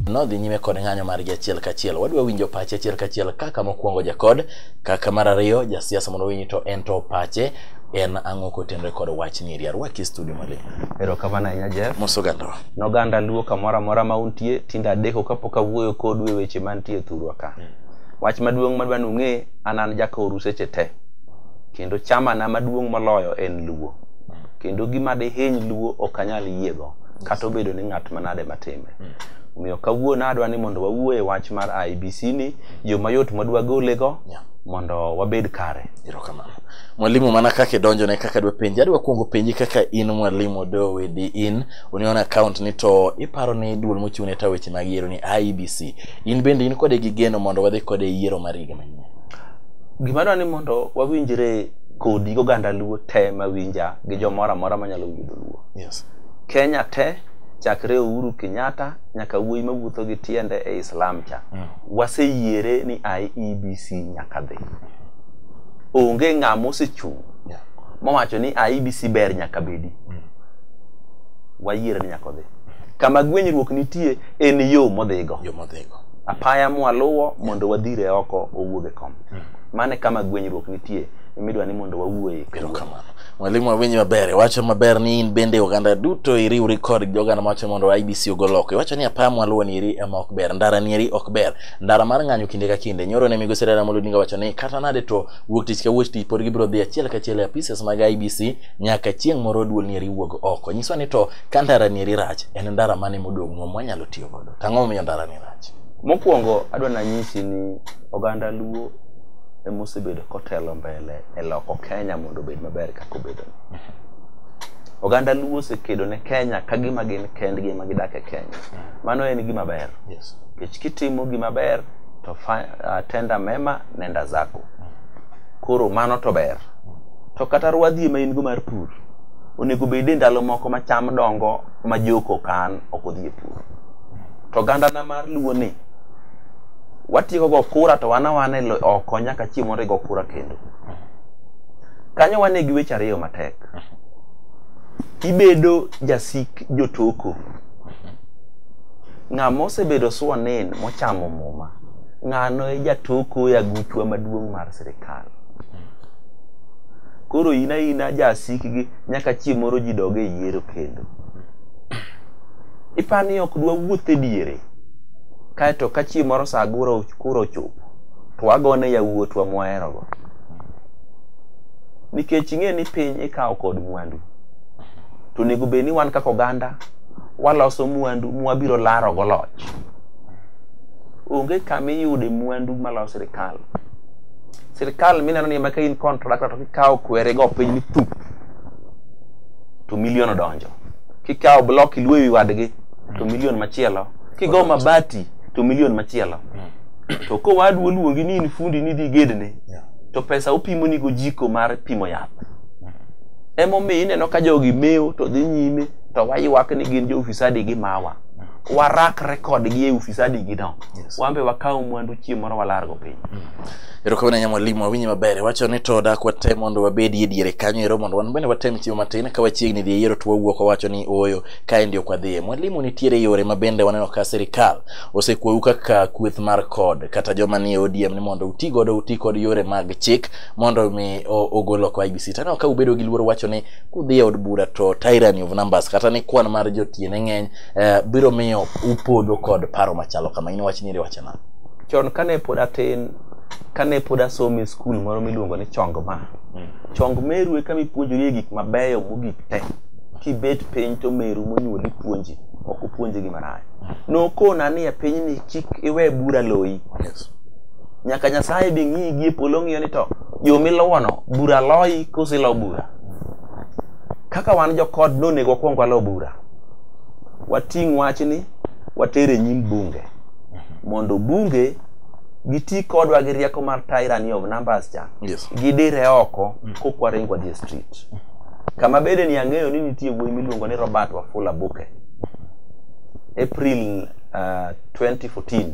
nodhi nyime kod ng'anyo margi achiel kachiel wadwa winjo pache achiel kachiel kaka mokwongo jakod kaka mar ariyo jasiasa mondo winyi to en to pache en ang'o kotenre kod wachni eri arwaki e studio maling erokamano ahinya jeff mosogandowa ne oganda luo kamoro amora ma untie tinde adeko kapok awuoyo kodu e weche mantie e thurwa ka wach maduong' madwa nung'e an an jakoru seche te kendo chamana maduong' moloyo en luo kendo gima dihiny luo ok anyal yiego kata obedo ni ng'at manade matime omiyo kawuono adwa ni mondo wawuo e wach mar IBC ni yo mayot madwa golego Yeah. mondo wabed kare erokamano mwalimu mana kaka idonjone kaka dwa penji adwa kuongo penji kaka in mwalimu dowedi in union account ni to iparo ni duol mochung' ne ta weche mag yiero ni IEBC in bende in kode gi geno mondo wadhi kode yiero mar higa manyien gima dwa ni mondo wawinjre kodi gi oganda luo te mawinja gi jomoro amora manyalo winjo luo yes. kenya te chakre uhuru kenyatta nyaka wuoyi mawuotho gi tiende e islam cha mm. waseyiere ni iebc nyaka dhi onge ng'ama osechung' yeah. mowacho ni iebc ber nyaka bedi mm. wayiere ni nyaka odhi kama gwenyruok nitie en yo modhigo yo modhigo apaya mwaluwo mondo wadhire oko owuog e kom mm. mane kama gwenyruok nitie midwa ni mondo wawuoye kero kamano mwalimu awinji maber iwacho maber ni in bende oganda duto iriwri kod joganda mawacho mondo IBC ogol loko iwacho ni apaya mwaluwo ni eri ema ok ber ndara ni eri ok ber ndara mar ng'anyo kinde ka kinde nyoro ne migosi Raila Amolo Odinga wacho ni kata nade to wuok tich ka wuok tich pod gibiro dhi achiel kachiel e apises mag IBC nyaka chieng' moro duol nieri wuog oko nyiso ni to ka ndara nieri rach en ndara mane modong' nwa mwanyalo tiyo godo to ang'o momiyo ndara ni rach mokwongo adwa nanyisi ni oganda luo emosebedo kotelo mbele e loko kenya mondo obed maber kaka obedo oganda luo osekedo ne kenya ka gima gin kendgi ema gidak e kenya mano en gima ber yes. nikech kitimo gima ber to fa- ah, tenda mema nenda zako koro mano to ber to kata rwadhi ema in go mar pur onego bed e ndalo moko ma cham dongo ma jok okan ok odhi e pur to gandana mar luo ni watieko go kura to wan awana oko nyaka chieng' mondo igo kura kendo kanyo wane gi weche ariyo matek ibedo jasik jotoko ng'ama osebedo swanin mochamo muma ng'ano e jatoko e aguchwa maduong' mar sirikal koro in aina jasikgi nyaka chieng' moro ji dog e yiero kendo ipa ni ok dwa wuoth e diere kaeto ka chieng' moro sa guro kuro ochopo to wagone yawuotwa mwaherogo nikech ing'e ni piny ikawo kod mwandu to onego bed ni wan kaka oganda waloso mwandu mwabiro larogo loch onge kama iyude mwandu maloso sirikal sirkal mineno ni ema ka in contractor to kikawo kwere go piny ni thup to milion odonjo kikawo block iluo ewi wadgi to milion machielo kigo mabati to milion machielo to kowadu oluongi ni in fundi ni dhi gedne Yeah. to pesa upimo ni gojiko mar pimo yath emomiyo ineno ka jogi mewo to dhi nyime to waywak ni gin jo ufisadi gi mawa warakre kodgi e ufisadi gi no Yes. wan be wakaw mwandu chieng' moro walargo piny Erokamano ahinya mwalimu, awinji maber. Iwacho ni to dak watem mondo wabedie diere kanyo ero mondo wan bende watem chiwo matin ka wachiegni dhi e yiero to wawuok wawacho ni ooyo kaendi ok wadhiye. Mwalimu, nitiere yore ma bende waneno ka sirikal osekwou kaka kweth mar kod kata joma nie ODM ni mondo uti godo uti kod yore mag chik mondo mi o- ogol oko IBC. Taneno ka ubedo gi luoro wacho ni kudhi e od bura to tyranny of numbers kata ni kwan mar jotiene ng'eny eh, biro miyo upodho kod paro machalo kama. In wach ni iri wacho nang'o? Chon kane pod atin, kane pod asomo e skul moro miluongo ni chong ma chong meru e kama ipuonjorie gik mabeyo mogik te kibet piny to meru monyuoli puonji ok opuonji gima rach nokona ni e pinyni kik iwe bura loyi Yes. nyaka nyasaye be ng'iyi gi e polo ng'iyo ni to yo miluwono bura loyi koso ilo bura kaka wan jokod nonego wakwong walo bura wating' wachni water e nyim bunge mondo bunge giti kodwa gi rieko mar tyranny of numbers cha Yes. gidire oko kokwaring wadhi e street kama bede ni ang'eyo ni nitie wuoyi miluongo ni robert wafula buke april uh, 2014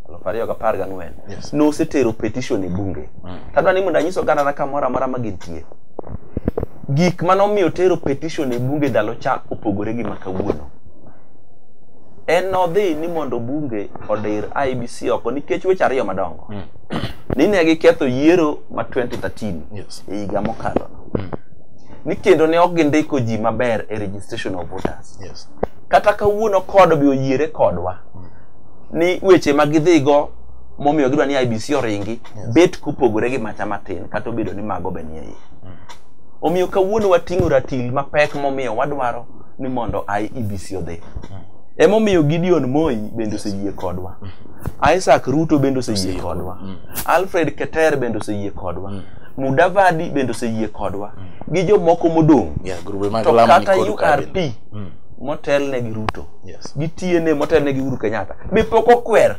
aluf ariyo gapar gang'wen Yes. nosetero petition e bunge tadwa ni mondo anyiso ogandana kamoro amora ma gintie gik manomiyo tero petition e bunge ndalo cha opogore gi ma kawuono en nodhi ni mondo bunge odir IBC oko nikech weche ariyo madongo ni ne giketho yiero ma 2013 Yes. e higa mokalo ni kendo ne ok gindiko ji maber e registration of voters Yes. kata kawuono kodo be oyiere kodwa ni weche ma gidhigo momiyo gidwa ni IBC oringi bet kopogore gi macha matin kata obedo ni mago be nie iye omiyo kawuono wating'o ratil mapek momiyo wadwaro ni mondo IEBC odhi. Emomiyo Gideon Moi bende oseyie kodwa. Isaac Ruto bende oseyie kodwa. Alfred Keter bende oseyie kodwa. Mudavadi bende oseyie kodwa. Gi jomoko modong'. Yeah, grube mag To Lamu kata nikod ukabila. URP Mm. motelne gi Ruto Yes. gi TNA motelne gi Uhuru Kenyatta be pok okwer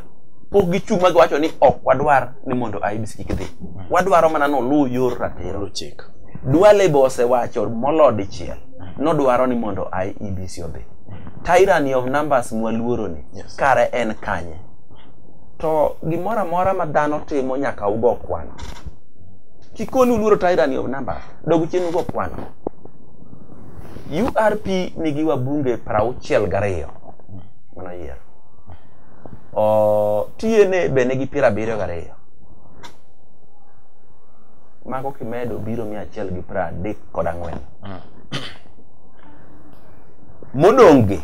pok gichung' ma giwacho ni ok wadwar ni mondo IEBC kik dhi wadwaro mana noluw yor ratiro Luchik. Duale be osewacho molod dichiel nodwaro ni mondo IEBC odhi. Tyranny of numbers mwaluoro ni Yes. kare en kanye? To gimoro amora ma dhano timo nyaka ugo kwano. Kikoni uluoro tyranny of numbers, dog chien ugo kwano. URP nigi wabunge prauchiel gariyo manoyiero. O, TNA be nigi piero abiriyo gariyo. Mago kimedo biro mia achiel gi piero adek kod ang'wen. modong'gi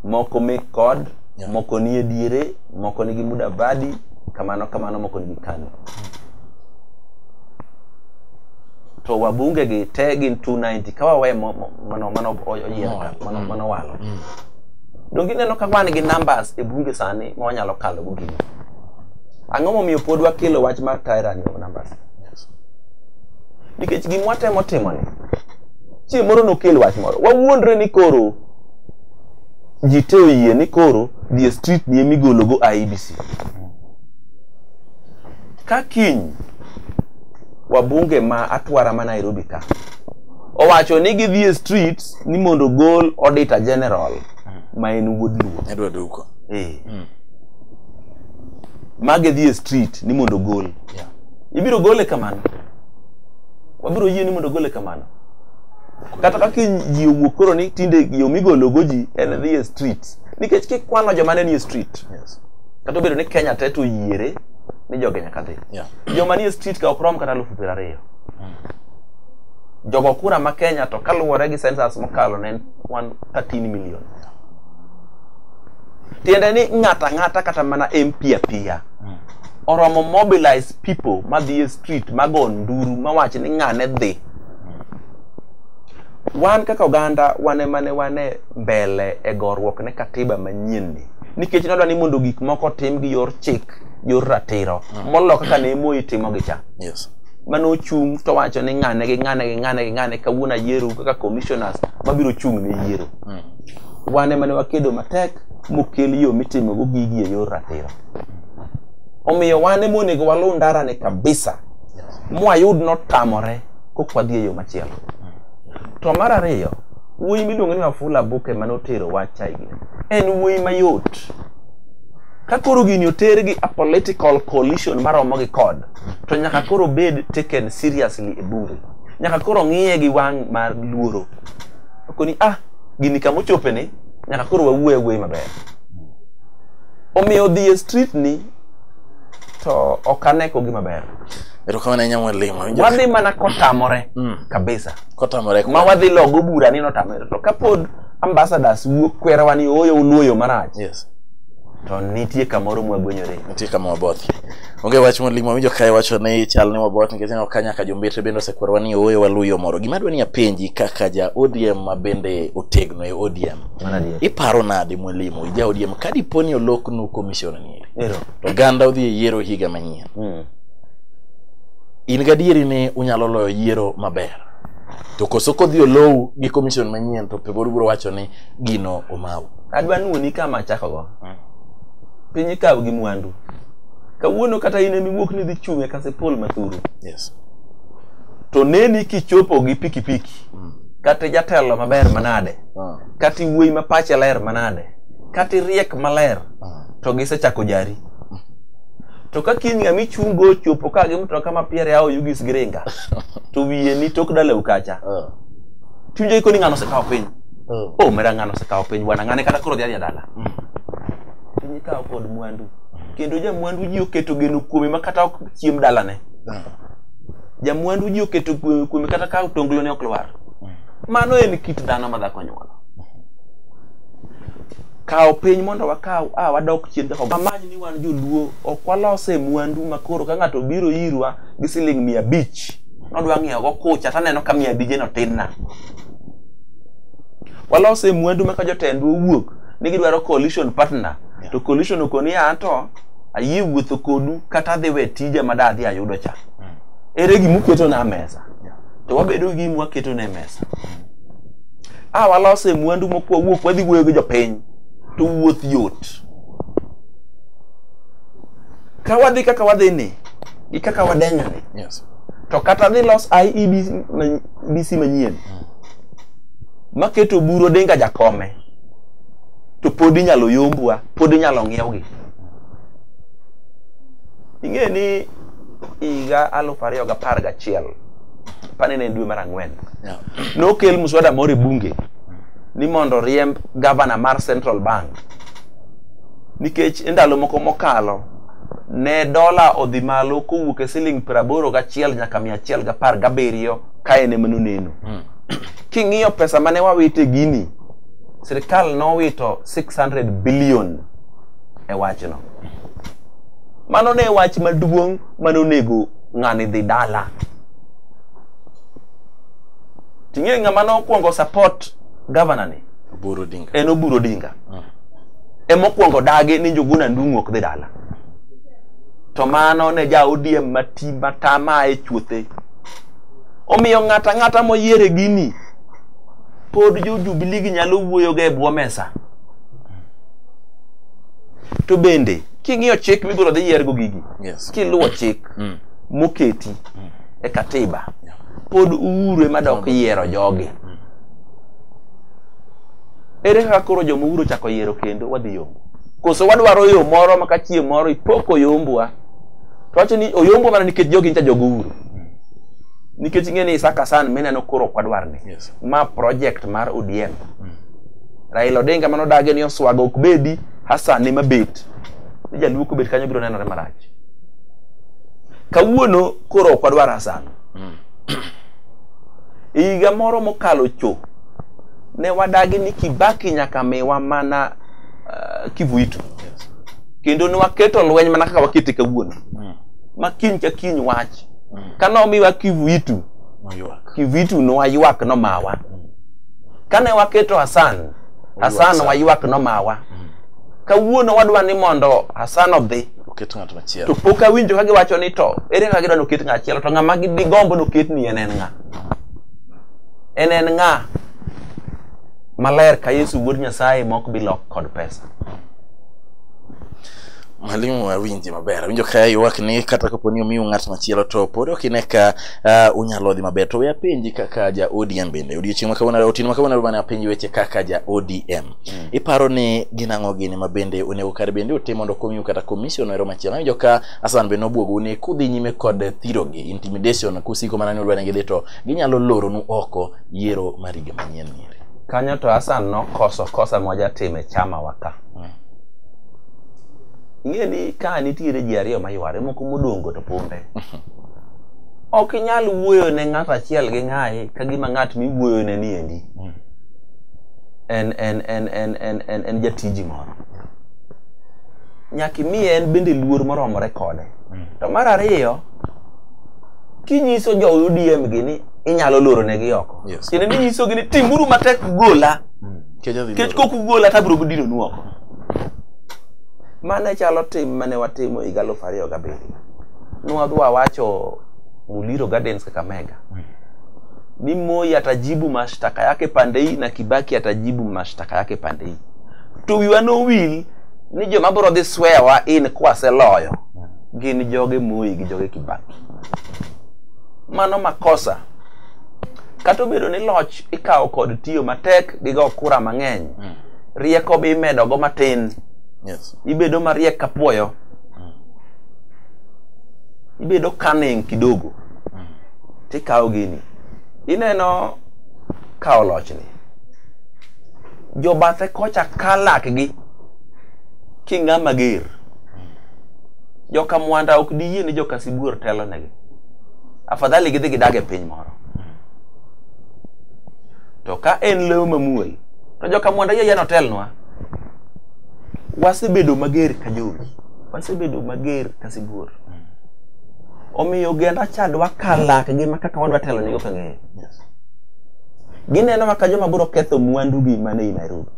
moko mek kod yeah. moko nie diere moko nigi muda badi kamano kamano moko nigi kano to wabunge gi te gin 290 ka wawe mano mano oyier ka mano mm. mano walo mm. donge ineno ka wan gi numbers e bunge sani ma wanyalo kalo go gini ang'o momiyo pod wakelo wach mar tyranny of numbers nikech gima watemo timoni chieng' moro nokel wach moro wawuondre ni koro ji te oyie ni koro dhi e street ni ema igologo IEBC ka kiny wabunge ma atwara ma Nairobi ka owacho ni gidhi e street ni mondo gol auditor general ma en wuod luo Edward Uko. eh. ma gidhi e street ni mondo gol Yeah. ibiro gole kamano wabiro yie ni mondo ogole kamano kata kaka ji owuok koro ni tinde yo migologo ji en dhi e street nikech kikwano joma ne nie street Yes. kata obedo ni kenya te to yiere ni joge nyaka dhi Yeah. joma nie street ka ok rom kata alufu piero ariyo jogo kura ma kenya to kaluwore gi census mokalo ne en 13 million tiende ni ng'ata ng'ata kata mana mp apiya oromo mobilize people madhi e street mago nduru mawach ni ng'ane dhi wan kaka oganda wane mane wane mbele e gorruok ne katiba manyien ni nikech nodwa ni mondo gik moko tim gi yor chik yor ratiro molo kaka ne moi timo gi cha Yes. mane ochung' to wacho ni ng'ane gi ng'ane gi ng'ane gi ng'ane kawuono ayieru kaka commissioners mabiro chung' ne yiero wane mane wakedo matek mokel yo mitimogo gigi e yor ratiro omiyo wan ema onego waluw ndarani kabisa mwayud notamore kok wadhi e yo machielo to mar ariyo wuoyi miluongo ni wafula buke mane otero wacha igi en wuoyi mayot ka koro gini oter gi a political coalition maromo gi kod to nyaka koro bed taken seriously e bunge nyaka koro ng'iye gi wang' mar luoro okoni ah gini kama ochopeni nyaka koro wawuo awuoyi maber Omiyo dhi e street ni to ok ane ko gima ber. Erokamano ahinya mwalimu. Awinjo- Wadhi mana kotamore Mm. kabisa. Kotamore Ma wadhi logo bura ni notamore. To kapod ambassadors wuok kwerowa ni ooyo uluoyo marach. Yes. To nitie kamoro mwagwenyore. nitie kama waboth onge wach mwalimu awinjo kae wacho ni chal ni waboth nikech ineno ka nyaka jombetre bende osekwerwa ni ooyo waluyo moro gima adwa ni apenji kaka ja odm ma bende otegno e odm iparo nade mwalimu ija odiem ka dipo ni oloknu komishona nieri to oganda odhi e yiero higa manyien hmm. in gadieri ni unyalo loyo yiero maber to koso kodhi olowu gi komishon manyien to pegor biro wacho ni gino omawu adwa ni wuoni kama achakogo hmm. piny ikaw gi mwandu kawuono kata in emiwuok ni dhi chung' e kasipul mathuru yes. to neni kichopo gi pikipiki mm. kata jatelo maber manade Ah. kata iwuoyi ma pache ler manade kata iriek maler ah. to gisechako jari to ka kiny ng'ama ichungo ochopo ka gi mtoka ma piere ao yugis giringa to wiye ni tok dalew kacha ah. tiwinjo ikoni ng'ano osekawo piny o oh, mera ng'ano osekawo piny bwana ng'ane kata koro dhi adhi adala mm. piny ikawo kod mwandu kendo jamwandu ji oketo geno kuome ma kata ok chiem dalane jamwandu ji oketo kuome kata ka otonglone ok lwar Mano en kit dhano ma dhako nyuolo. Kawo piny mondo wakaw a wadok chien dhako. Amany ni wan joluo ok walose mwandu ma koro ka ng'ato biro irwa gi siling mia abich nodwa ng'iewo go kucha taneno ka mia abije no tin na. Walose mwandu ma ka jotendwa owuok ni gidwaro coalition partner to coalition okoni anto ayie wuotho kodu kata adhi we tija ma da adhi ayudo cha. Ere gima uketo na mesa? to wabedo gi mwaketo ne mesa a ah, walose mwandu mokwa wuok wadhi wuoyo gi jopiny to wuoth yot ka wadhi kaka wadhi ni gi kaka wadenyo ni yes. to kata dhi los IEBC manyien mm. maketo buro denga jakome to pod inyalo yombwa pod inyalo ng'iewgi ing'e ni higa alufu ariyo gapar gachiel pane ne dwe mar ang'wen yeah. nokel muswada moro e bunge ni mondo riemb gavana mar central bank nikech e ndalo moko mokalo ne dola odhi malo kowuok e siling praboro gachiel nyaka mia achiel gapar gabiriyo ka en ema noneno hmm. king'iyo pesa mane wawito e gini sirikal nowito 600 billion e wachno mano ne wach maduong' manonego ng'ani dhi dala ting'e ng'ama nokwongo support governor ni Oburu Odinga. en oburo dinga emokwongo dagi ni njuguna ndung'u ok dhi dala to mano ne ja odm mati matama e chuothe omiyo ng'ato ang'ata moyiere gini pod jo jubiligi nyalo wuoyoga e bwo mesa to bende king'iyo chik migolo dhi yiergo gigi yes. kiluwo chik mm. moketi mm. e katiba yeah. pod uhuru ema dok yiero jogi mm. ere kaka koro joma uhuru ochako yiero kendo wadhi yombo koso wadwaro yo moro maka chieng' moro ipoko oyombwa to wacho ni oyombwa mana nikech jogi ncha jogo uhuru mm. nikech ing'e ni isaka san mineno koro ok wadwar ni yes. ma project mar odm mm. raila odinga mano dage ni oswago ok bedi Hasa ne mabet ni jaluo kobet kanyo biro nenore marach. Kawuono koro ok wadwar Hassan. E higa moro mokalo cho ne wadagi ni Kibaki nyaka miwa mana uh, Kivuitu kendo ne waketo lweny mana kaka wakete kawuono ma kiny ka kiny wach ka nomiwa Kivuitu Kivuitu nowaywak nomawa kane waketo Hassan Hassan waywak nomawa mm. kawuono wadwa ni mondo Hassan odhi oket ng'at machielo to pok awinjo ka giwacho ni to ere kaka gidwa noket ng'at machielo to ng'ama gigombo noket ni en en ng'a en en ng'a maler ka Yesu wuod Nyasaye mok bilok kod pesa mwalimu awinji maber awinjo ka ywak ni kata kapo ni omiu ng'at machielo to pod ok ine ka Ah, unyalo dhi maber to we apenji kaka ja odm bende odiochieng' makawuono otieno makawuono mane apenji weche kaka ja odm iparo ni gin ang'o gini ma bende onego kar bende otim mondo okonyu kata commission ero machielo awinjo ka asan bende obwogu ni kudhi nyime kod thirogi intimidation kusiko mana ni udwani gidhi to ginyalo loronu oko yiero mar higa manyien nieri kanyo to Hassan nokoso kosa mwajatime chama waka ing'e ni ka nitiere ji ariyo mayware moko modongo to punde ok inyal wuoyo ne ng'at achiel gi ng'ayi ka gima ng'at miwuoyo ne ni endi hmm. en en en en en en en jatiji moro nyaka imiye en bende luor moromore kode hmm. to mar ariyo kinyiso jo UDM gi ni inyalo loro ne gi oko kendo ni nyiso gi ni timuru matek gola hmm. kech kok ugola to abiro dino nu oko mane chalo tim mane watimo higa aluf ariyo gabiriyo nwadwa wacho Muliro Gardens Kakamega ni Moi atajibu mashtaka yake pande hii na Kibaki atajibu mashtaka yake pande hii to wiwa nowil ni joma biro dhi swewa in kwaseloyo gin joge Moi gi joge Kibaki mano makosa kata obedo ni loch ikawo kod tiyo matek gi go kura mang'eny rieko be imedogo matin Yes. ibedo mariek kapuoyo ibedo cunning kidogo tikawo gini ineno kawo lochni jobathe kocha ka lakgi king'a mager joka mwanda ok diyie ni joka sibuor telonegi afadhali gidhi gidag e piny moro to ka en lewo mamuol to joka mwanda yie yano telnwa wasebedo mager ka jowi wasebedo mager ka sibuor omiyo ogenda cha dwa ka lakgi ma kaka wadwa telo nigo kang'eyo gineno maka joma biro ketho mwandugi mane i nairobi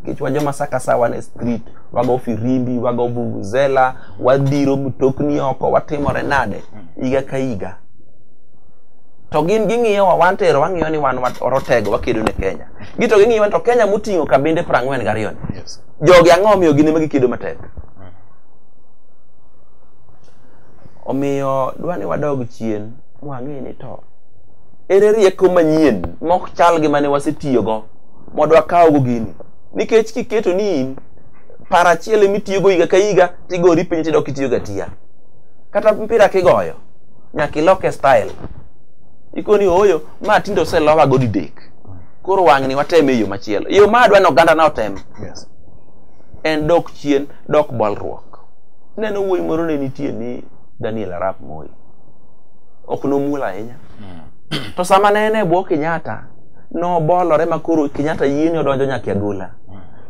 nikech wa joma saka sa wan e street wago firimbi wago vuvuzela wadhiro mtokni oko watimore nade higa ka higa to gin ging'iyowa wan tero wang'iyo ni wan wat- orotego wakedo ne kenya gito ging'iyowa ni to kenya moting'o kabinde prang'wen gariyo ni Yes. jogi ang'o omiyo gin ema gikido matek omiyo dwa ni wadog chien mwang'e ni to ere rieko manyien mok chal gi mane wasetiyogo mondo wakawgo gini nikech kiketo ni in par achiel emitiyogo higa ka higa tigori piny tidok itiyogo atiya kata mpira kigoyo nyaka iloke style ikoni oyo ma tinde oselowago didek koro wang'ni watem e yo machielo e yo ma adwa ni oganda na otem yes. en dok chien dok bolruok neno wuoyi moro ne nitie ni daniel arap moi ok nomuol ahinya to sama ne en e bwo kenyatta nobolore ma koro kenyatta yieni odonjo nyaka e agola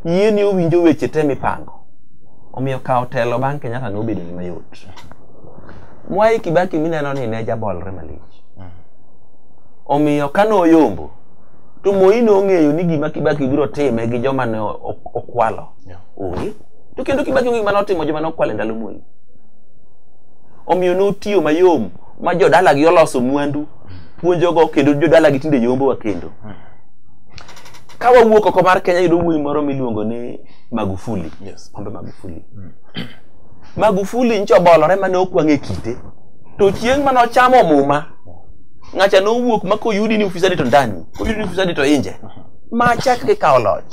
yieni owinjo weche te mipango omiyo kawo telo bang' kenyatta ne obedo ni mayot mwai kibaki mineno ni ne jabolre malich Omiyo ka noyombo, to Moi nong'eyo ni gima Kibaki biro time gi joma ne o- o- okwalo Yeah. onge. To kendo Kibaki onge gima notimo joma nokwalo e ndalo Moi. Omiyo notiyo mayom ma jodalagi oloso mwandu puonjogo kendo jodalagi tinde yombowa kendo. Ka wawuok oko mar Kenya yudo wuoyi moro miluongo ni Magufuli. Yes. Pombe Magufuli. Magufuli nyocha obolore mane okwang' e kite. To chieng' mane ochamo muma ng'acha nowuok ma koyudi ni ufisadi to ndani koyudi ni ufisadi to inje ma chak kikawo loch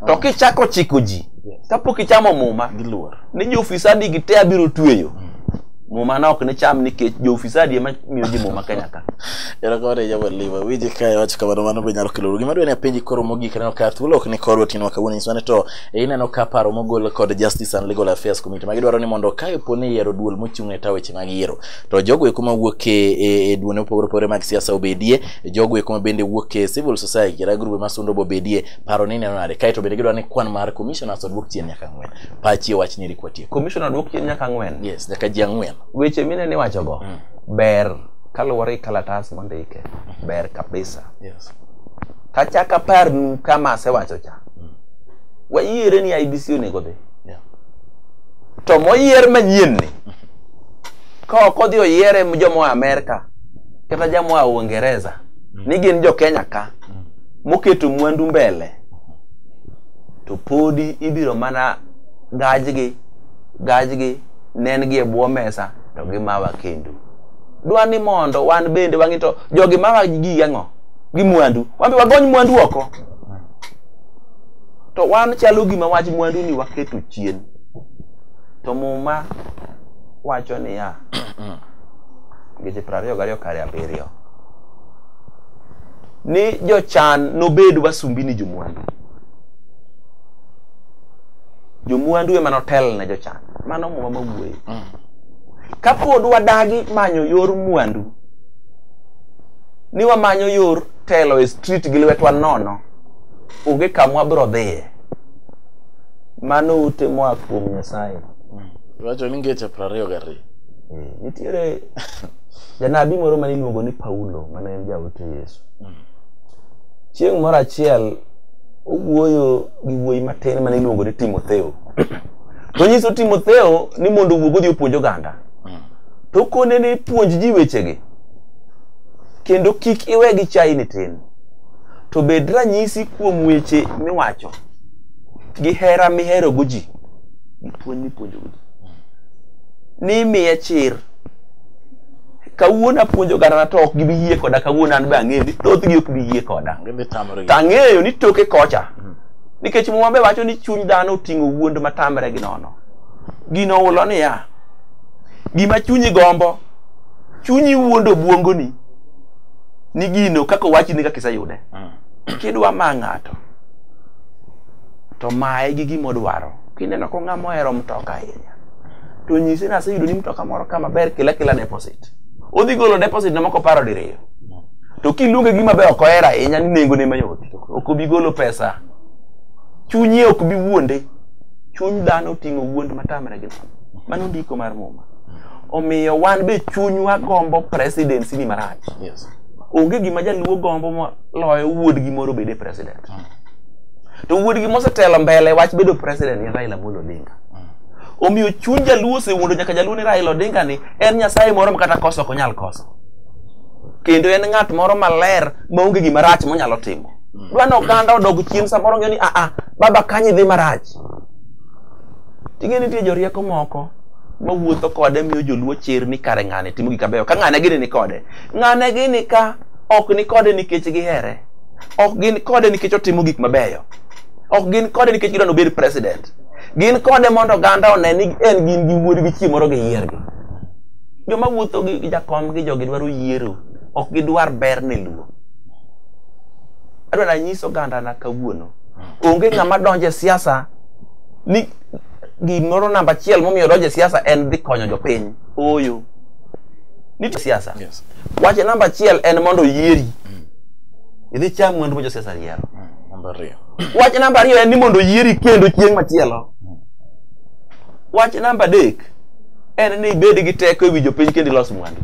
to kichako chiko ji kapok ichamo muma Giluor. ni joofisadi gi te abiro tweyo muma na ok ne cham nikech joofisadi ema miyo ji muma kenya ka Erokamano e Jabal Liva. Wiji ka iwacho kamano mano be nyalo kelo gima dwe ni apenji koro mogik neno ka thuolo ok ni koro tinwa kawuono nyiswa ni to e ineno ka paro mogol kod Justice and Legal Affairs Committee ma gidwaro ni mondo ka ipo ni yiero duol mochung' ne taweche mag yiero to jogo eko mawuok e, e, e duone opogore opogore mag siasa obedie jogo eko mabende wuok e civil society kata grube masundo bobedie paro ni neno nade kaeto bende gidwa ni kwan mar commissioners odwok chien nyaka ang'wen pachi e wach nyiri kwatie commissioner dwok chien nyaka ang'wen yes nyaka ji ang'wen weche mine ni wachogo mm. ber kaluwore gi kalatas mondike ber kabisa yes kachaka parnu kama asewacho cha mm. wayiere ni IBC onego dhi yeah. to moyier manyien ni mm. ka ok odhi oyiere jomoa Amerka kata jamoa Uingereza mm. ni gin jo Kenya ka mm. moketo mwandu mbele to podi ibiro mana gajgi gajgi nengi e bwo mesa to gimawa kendo dwa ni mondo wan bende wang'i to jogi mawa gigi ang'o gi mwandu wan be wagony mwandu oko to wan chalo gima wach mwandu ni waketo chien To muma wacho niya, ngeche piero ariyo gariyo kare abiriyo, ni jochan nobed wasumbini jomwandu. Jomwandu ema notel ne jochan. Mano muma mawuoye. Kapod wadagi manyo yor mwandu, ni wamanyo yor telo e street gi lwetwa nono, onge kama wabiro dhiye. mano ute moa kuom nyasaye Iwacho ni ngeche piero ariyo gariyo. Eh, nitiere janabi moro mane iluongo ni paulo mane en jaote yesu chieng' moro achiel owuoyo gi wuoyi matin mane iluongo ni timotheo to nyiso timotheo ni mondo owuog odhi opuonj oganda to kone ni puonj ji wechegi kendo kik iwe gi chai ni tin to bed ranyisi kuom weche miwacho gi hera miherogo ji gi puonj mipuonjogo ji nimiye chir kawuono apuonjo ogandana to ok gibi yie koda kawuono an be ang'eyo ni thothgi ok bi yie koda to ang'eyo ni toke kocha mm. nikech muma be wacho ni chuny dhano oting'o wuond matamre gi nono gino ulo niya gima chunyi gombo chunyi wuondo obwongoni ni gino kaka owachni kaka iseyude mm. kidwa ma ng'ato to maye gi gima odwaro kineno ko ng'ama ohero mtoka ahinya to nyise ni aseyudo ni mtoka moro kama ber kila kila deposit odhi golo deposit na moko paro diriyo to kiluonge gima be ok ohero ahinya ni nengone mayot ok obi golo pesa chunye ok bi wuonde chuny dhano oting'o wuond matamre gi nono mano ndiko mar muma omiyo wan be chunywa gombo presidency ni marach Yes. onge gima jaluo gombo moloyo wuodgi moro bede president to wuodgi mosetelo mbele wach bedo president en Raila Amolo Odinga omiyo chuny jaluo osewuondo nyaka jaluo ni Raila Odinga ni en nyasaye moro ma kata koso ok onyal koso kendo en ng'at moro maler maonge gima rach monyalo timo dwa ni oganda odog chien samoro ng'eyo ni aa ah, ah, baba kanyi dhi marach ting'e nitie jorieko moko mawuotho kode miyo joluo chir ni kare ng'ane timo gik mabeyo ka ng'ane gini ni kode ng'ane gini ka ok ni kode nikech gihere ok gin kode nikech otimo gik mabeyo ok gin kode nikech gidwani obed president gin kode mondo oganda one ni en gin gi wuod gi chieng' moro giyiergi joma wuotho gi jakom gi jogi dwaro yiero ok gidwar ber ne luo adwani anyis oganda na kawuono onge ng'ama donje siasa ni gimoro namba achiel momiyo donje siasa en dhi konyo jopiny ooyo nitie siasa yes. wache namba achiel en mondo oyieri idhi cham mwandu ma josiasa yiero Namba ariyo. wach namba ariyo en ni mondo oyieri kendo chieng' machielo wach namba adek en ni ibed gi teko ewi jopiny kendo ilos mwandu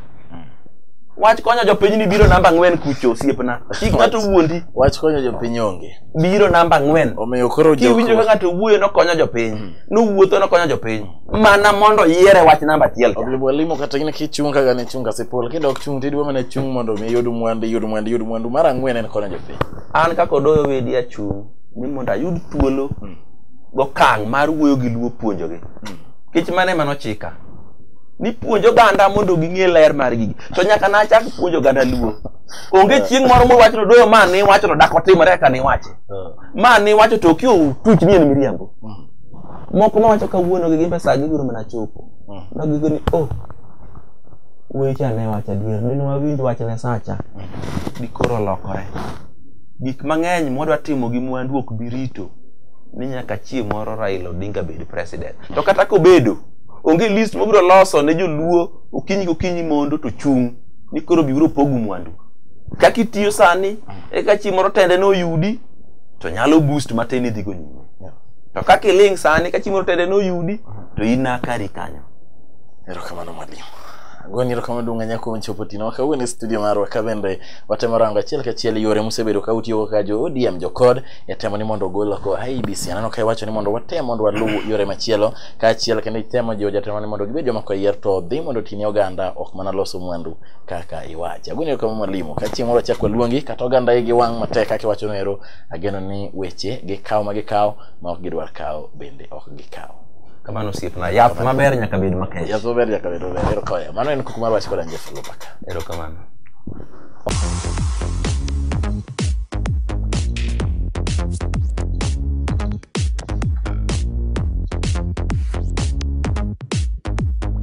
wach konyo jopiny ni biro namba ang'wen kucho osiepna kik ng'ato wuondi Wach konyo jopiny onge. biro namba ang'wen Omiyo koro kiwinjo ka jok ng'ato wuoyo nokonyo jopiny nowuotho nokonyo jopiny mana mondo yiere wach namba achiel cha. Obibo limo kata in kichung kaka ne chung kasipul kidok chung tidwa mana chung mondo mi yud mwandu yud mwandu yud mwandu mar ang'wen en konyo jopiny an kaka odoyo wedi achung' ni mondo ayud thuolo gokang' mar wuoyo gi luo puonjogi kech mane mano chika ni puonj oganda mondo ging'e ler mar gigi to nyaka nachak puonjo oganda luo onge chieng' moro muwacho ni odoyo ma niwacho to dak otimore kaka niwache ma niwacho to okiyo tuch ni en miriambo moko mawacho kawuono gi gin pesa gibiro mana chopo mm. ma gigo ni oh wecha ne wacha adier ne wawinj wach ne sacha gikoro mm. lokore gik mang'eny mwadwa timo gi mwandu ok bi rito ni nyaka chie moro Raila Odinga bed president to kata kobedo onge list mobiro loso ne joluo okinyi kokinyi mondo to chung' ni koro bibiro pogu mwandu kaka itiyo sani mm. eka chie moro tende ne oyudi to nyalo boost matin idhigo nyime to kaka iling sani ka chieng' tede noyudi to in nakari kanyo erokamano mwalimu goni erokamano duong' anya kuom chopo tino kawuono e studio marwa ka bende watemo rango achiel kachiel yore musebedo ka utiyogo kaka jo odm jokod e temo ni mondo ogol oko ibc aneno ka iwacho ni mondo watem mondo waluw yore machielo kaachiel kendo itemo jiwo jatemo ni mondo gibed joma koyier to dhi mondo otini oganda ok mana loso mwandu kaka iwacho agoni erokamano mwalimu ka chieng' moro achak waluongi kata oganda igi wang' matek kaka iwachono ero Ageno ni weche gikawo ma gikawo ma ok gidwar kawo bende ok gikawo. Kamano osiepna. Yath maber nyaka bed makech. Yath maber nyaka bed maber. Ero kawaya. Mano en kuku mar wach koda Jeff Lopaka. Ero kamano.